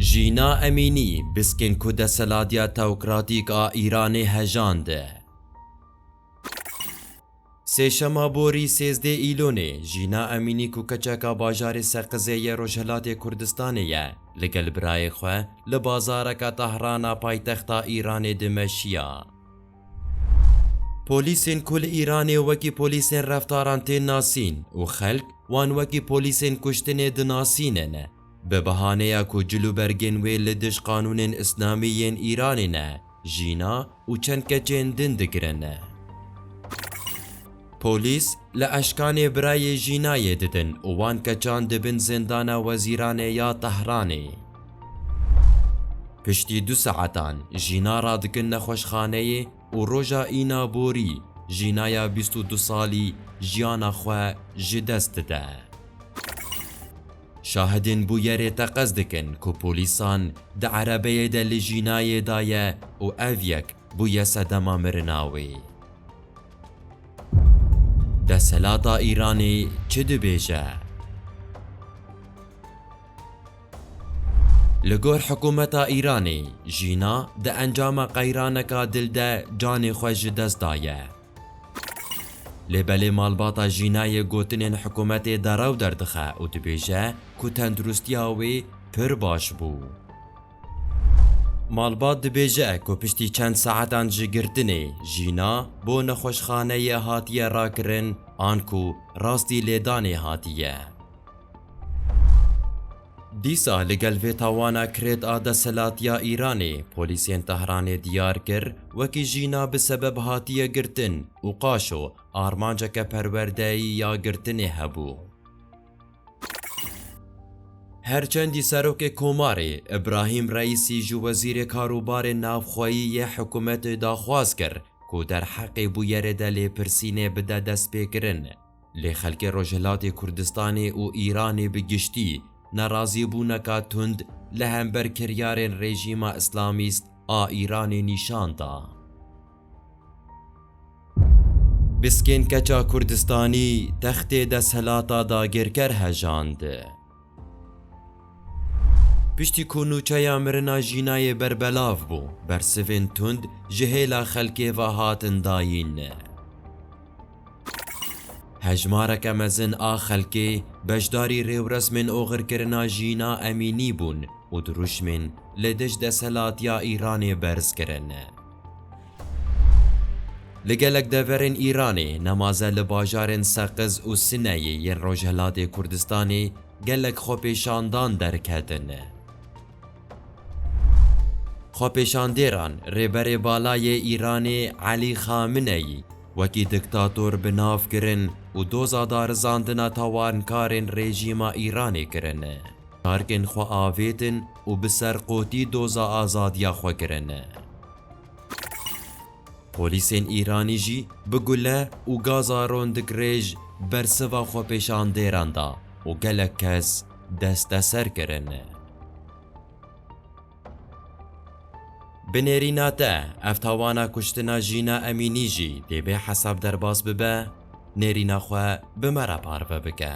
Jîna Emînî biskên ku deseladiya teokratîk a Îranê hejande. Sêşema borî sêzdeh Îlonê, Jîna Emînî ku keçeka bajarê Seqizê yê Rojhilatê Kurdistanê ye, li gel birayê xwe li bazareka Tehrana paytexta Îranê dimeşiya. Polîsên ku li Îranê wekî polîsên reftaran tên nasîn û xelk wan wekî polîsên kuştinê dinasîne ne, bi bihaneya ku cilûbergên wê li dij qanûnên îslamî yên Îranê ne, jîna û çend keçên din digirin ne. Polîs li eşkanê birayê Jînayê didin û wan keçand di bin Zindana Wezîranê ya Tehranê. Piştî du saetan Jîna radikin nexweşxaneyê û roja îna borî Jînaya bîst û du salî jiyana xwe ji dest dide. Şahidên bûyerê teqez dikin ku polîsan di erebeyê de li Jînayê daye û ev yek bûye sedema mirina wê. Deselata Îranê çi dibêje? Li gor hikûmeta Îranê Jîna di encama qeyraneka dil de canê xwe ji dest daye. Lê belê malbata Jînayê gotinên hikûmetê derew derdixe û dibêje ku tenduristiya wê pir baş bû. Malbat dibêje ku piştî çend saetan ji girtinê Jîna bo nexweşxaneyê hatiye rakirin an ku rastî lêdanê hatiye. Dîsa li gel vê tawana kirêt a desthilatiya Îranê polîsên Tehranê diyar kir wekî Jîna bi sebeb hatiye girtin û qaşo armanceke perwerdeyî ya girtinê hebû. Her çendî Serokê Komarê Îbrahîm Reîsî ji Wezîrê Karûbarê Navxweyî yê hikûmetê daxwaz kir ku derheqê bûyerê de lêpirsînê bide destpêkirin, lê xelkê Rojhilatê Kurdistanê û Îranê bi giştî nerazîbûneka tund li hember kiryarên Rejîma Îslamîst a Îranê nîşan da. Biskên keça Kurdistanî textê desthilata dagirker hejand. Piştî ku nûçeya mirina jînayê berbelav bû, bersivên tund ji hêla xelkê ve hatin dayîn. Hejmareke mezin a xelkê beşdarî rêwresmên oxirkirina jîna Emînî bûn û dirûşmên li dij desthilatiya Îranê berz kirin. Li gelek deverên Îranê nemaze li bajarên Seqiz û Sineyê yên Rojhilatê Kurdistanê gelek xwepêşandan derketin. Xwepêşandêran Rêberê Bala yê Îranê Elî Xamineyî wekî diktator bi nav kirin û doza darizandina tawankarên rejîma Îranê kirin. Tarkên xwe avêtin û bi serqotî doza azadiya xwe kirin. Polîsên Îranî jî bi gule û gaza rondikrêj bersiva xwepêşandêran da û gelek kes desteser kirin. Bi nêrîna te ev tawana kuştina Jîna Emînî jî dê bê hesab derbas bibe, nêrîna xwe bi me re parve bike.